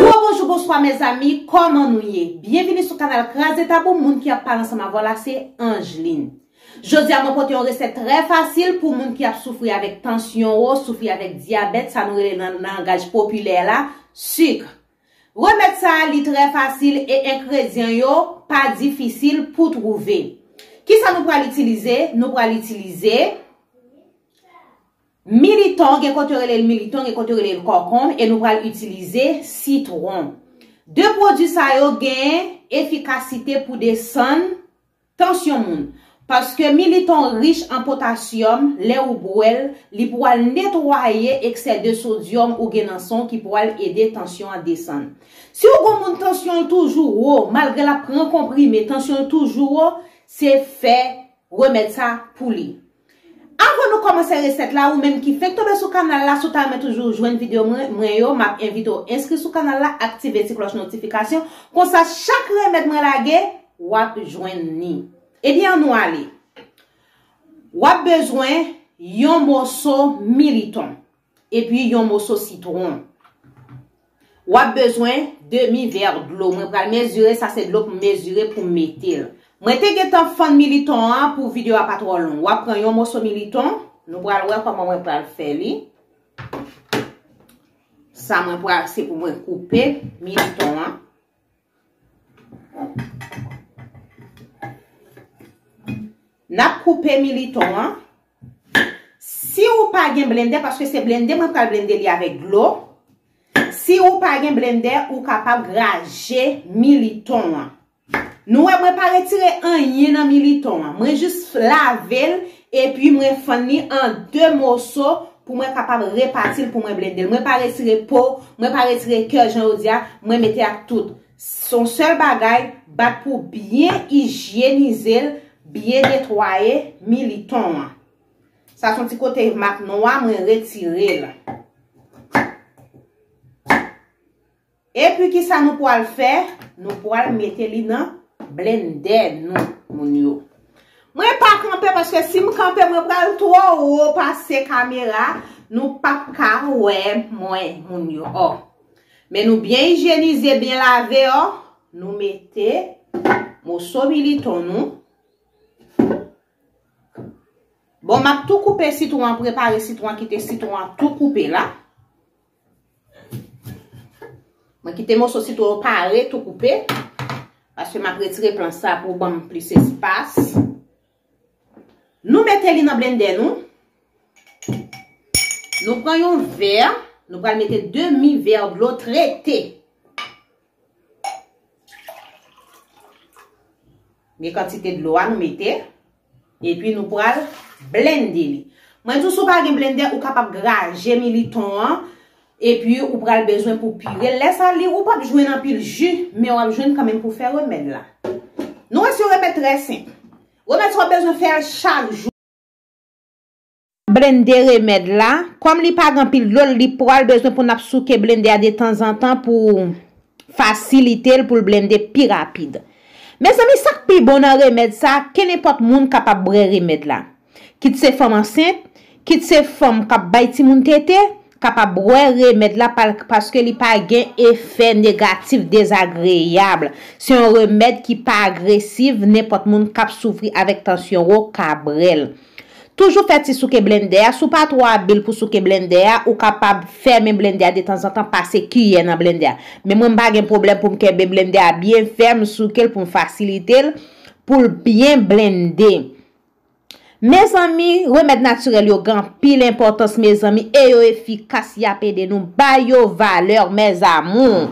Gwo bonjou bonswa mezanmi kòman nou ye byenvini sou kanal kraze tabou moun ki ap pale ansanm avèw la se Angeline jodia mwen pote yon resèt trè fasil pou moun ki ap soufri avèk tansyon wo soufri avèk dyabèt sa nou rele nan langaj popilè la suk remèd sa li trè fasil e enkredyan yo pa difisil pou twouve kisa nou pral itilize nou pral itilize Militon, gen kote yo rele l militon, gen kote yo rele l kòkonb e nou pral itilize sitwon. De pwodui sa yo gen efikasite pou desann tansyon moun. Paske militon rich an potasyòm, lè ou bwè l, li pwal netwaye eksè de sodyòm ou gen nan san w ki pwal ede tansyon an desann. Si w gon moun tansyon l toujou wo, malgre l ap pran konprime, tansyon l toujou wo, se fè remèd sa pou li. Avan nou kòmanse resèt la ou menm ki fenk tonbe sou kanal la si w ta renmen toujou jwenn video mwen yo map envite w enskri sou kanal la aktive ti klòch notifikasyon konsa chak remèd mwen lage wap jwenn ni ebyen an nou ale wap bezwen yon moso militon Epi yon moso sitron. Wap bezwen demi ver dlo. Mwen pral mezire sa se dlo pou mezire pou mete l. Mwen te gentan fann militon an pou video a pa tro long. Wap pran yon moso militon. Nou pral wè koman mwen pral fè li. Sa mwen pral se pou mwen koupe militon an. Nap koupe militon an. Si ou pa gen blendè, paske se blendè mwen pral blendè li avèk dlo. Si ou pa gen blendè, ou kapab graje militon an. Nou wè mwen pa retire anyen nan militon an. Mwen jis lavel Epi mwen fann li an 2 moso pou mwen kapab repati l pou mwen blende l. Mwen pa retire po, mwen pa retire kè jan yo di a, mwen mete ak tout. S on sèl bagay, bat pou w byen ijyenize l, byen netwaye militon an. Sa s on ti kote mak nwa mwen retire l. Epi kisa nou pwal fè nou pwal mete li nan blendè nou moun yo. Mwen pa kanpe paske sim kanpe mwen pral twò wo pase kamera nou pap ka wè mwen moun yo oh. Men nou byen ijyenize byen lave oh nou mete moso militon nou. Bon map tou koupe sitwon an prepare sitwon an kite sitwon an tou koupe la. Mwen kite moso sitron yo pare tou koupe. Paske m ap retire plan sa pou banm plis espas. Nou mete li nan blendè nou. Nou pran yon vè. Nou pral mete demi vè dlo trete. Gen kantite dlo a nou mete. E pi nou pral blende li. Mwen di sou pa gen blende ou kapab graje militon an. E pi ou pral bezwen pou pire. Lè sa li ou pap jwen nan pil ju. Men wap jwen kan men pou fè remèd la. Nou wè si yon remèd trè senp. Remèd sa wap bezwen fè chak jou. Nap blende remèd la. Kòm li pa gen anpil dlo li pral bezwen pou nap souke blende a detanzantan pou fasilite l pou l blende pi rapid. Mezanmi sak pi bon nan remèd sa kenenpòt moun kapab brè remèd la. Kit se fanm ansent, kit se fanm kap bay timoun tete, ka pa bwè remèd la paske li pa gen efè negatif dezagreyab. Se yon remèd ki pa agresiv nenpòt moun kap soufri avèk tansyon wo ka brèl. Toujou fè ti souke blendè a, si w pa twò abil pou souke blendè a, ou kapab fèmen blendè a detanzantan pase kiyè nan blendè a. Men mwen m pa gen pwoblèm pou m kenbe blendè a byen fèm, souke l pou m fasilite l pou l byen blende. Mezanmi remèd natirèl yo gen anpil enpòtans mezanmi e yo efikas yap ede nou bay yo valè mes amours.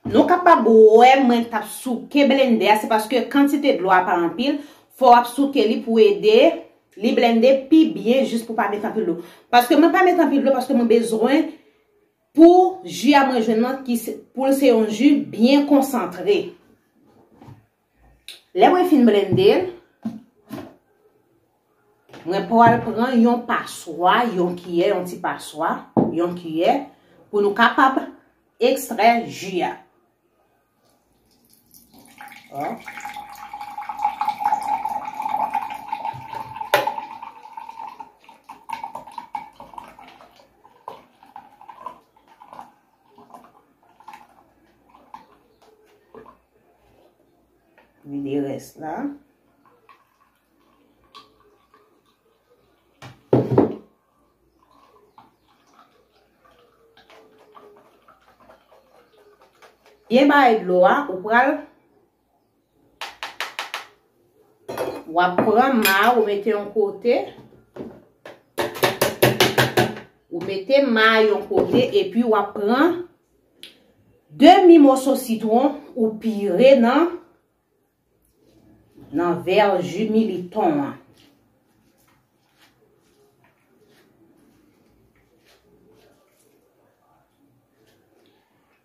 Nou kapab wè mwen tap souke blende a se paske kantite dlo a pa anpil fò wap souke li pou ede li blende pi byen jis pou pa met anpil dlo paske mwen pa met anpil dlo paske mwen bezwen pou ju a mwen jwenn nan poul se yon ju byen konsantre. Lè mwen fin blende l, mwen pwal pran yon paswa, yon kiyè, yon ti paswa, yon kiyè, pou nou kapab ekstrè ji a. Vide rès la. Byen baye dlo a, ou pral Wap pran ma ou mete yon kote. Ou mete ma yon kote epi wap pran demi moso sitron ou pire nan nan ver ju militon an.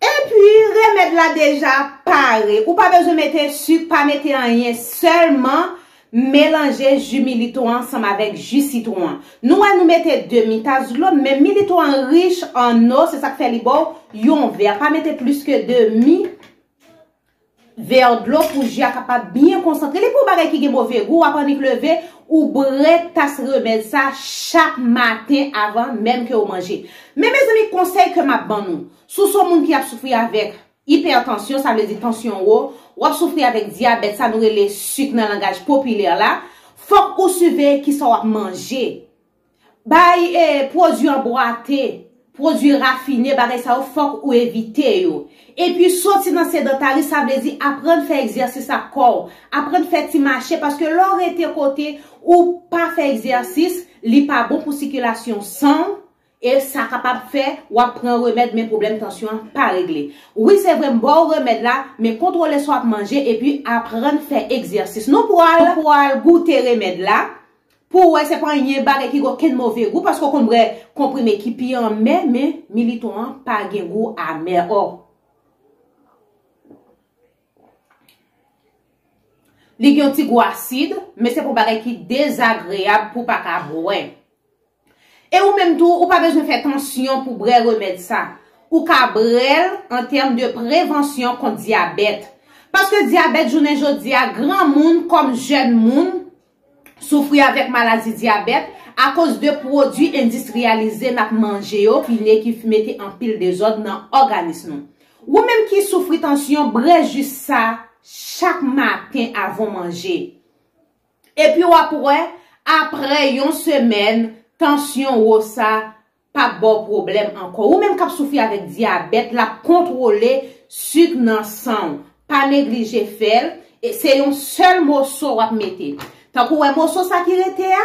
Epi remèd la deja pare, ou pa bezwen mete suk, pa mete anyen, sèlman melanje ju milito an ansanm avèk ju sitwon an. Nou wè nou mete demi tas dlo, men milito an rich an eau, se sak fè li baw yon vè, pa mete plis ke demi. Vèr dlo pou je a kapab byen konsantre. Li pou bagay ki gen move gou, w ap annik leve, ou bwè tas remèd sa chak maten avan menm ke ou manje. Men mezanmi konsèy ke m ap ban nou, si w se yon moun ki ap soufri avèk ipètansyon, sa vle di tansyon wo, w ap soufri avèk dyabèt, sa nou rele sik nan langaj popilè la, fòk ou siveye kisa w ap manje. Bay pwodui an bwate, pwodui rafine, bagay sa yo fòk ou evite yo. Epi soti nan sedantari sa vle di aprann fè egzèsis ak kò w, aprann fè ti mache paske lè w rete kote ou pa fè egzèsis li pa bon pou sikilasyon san w e sa kapab fè w ap pran remèd men pwoblèm tansyon an pa regle. Wi se vre m ba w remèd la men kontwole sa w ap manje epi aprann fè egzèsis. Nou pral goute remèd la. Pou ou wè se pa anyen bagay ki gen okenn move gou paske ou konn bwè konprime ki pi anmè men Militon an pa gen gou amè oh. Li gen yon ti gou asid men se pa yon bagay ki dezagreyab pou w pa ka bwè. E ou menm tou, ou pa bezwen fè tansyon pou brè remèd sa. Ou ka brèl an tèm de prevansyon kont dyabèt. Paske dyabèt jounen jodi a, gran moun kòm jèn moun soufri avèk maladi dyabèt akoz de pwodui endistriyalize n ap manje yo ki ne ki mete anpil dezòd nan òganis nou. Ou menm ki soufri tansyon, brè jus sa chak maten avan w manje. Epi w ap wè, aprè yon semèn, tansyon wo sa pa p ba w pwoblèm ankò. Ou menm k ap soufri avèk dyabèt, l ap kontwole sik nan san w. Pa neglije fè l. Se yon sèl moso w ap mete. Tank ou wè moso sa ki rete a.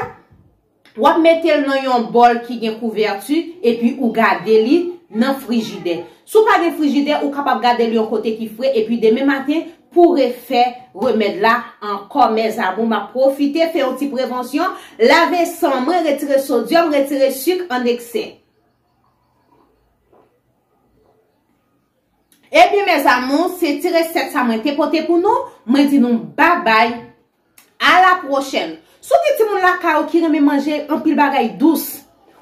Wap metel nan yon bòl ki gen kouvèti epi ou gade li nan frijidè. Si w pa gen frijidè ou kapab gade l yon kote ki fre epi demen maten pou refè remèd la ankò mes amour map pwofite fè yon ti prevansyon lave san mwen retire sodyòm retire suk an eksè. Ebyen mes amour se ti resèt sa mwen te pote pou nou mwen di nou babay A la pwochèn! Si w gen timoun lakay ou ki renmen manje anpil bagay dous,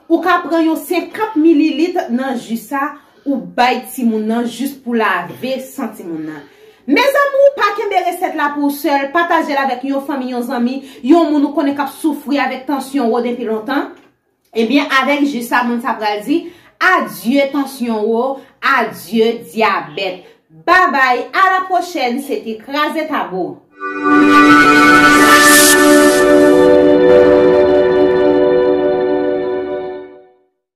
ou ka pran yon 50 mililit nan ji sa ou bay timoun nan jis pou lave san timoun nan. Mezanmou, pa kenbe resèt la pou w sèl, pataje l avèk yon fanmi, yon zanmi, yon moun ou konnen k ap soufri avèk tansyon wo denpi lontan. Ebyen avèk jus sa moun sa pral di adye tansyon wo adye dyabèt babay a la pwochèn se te kraze tabou.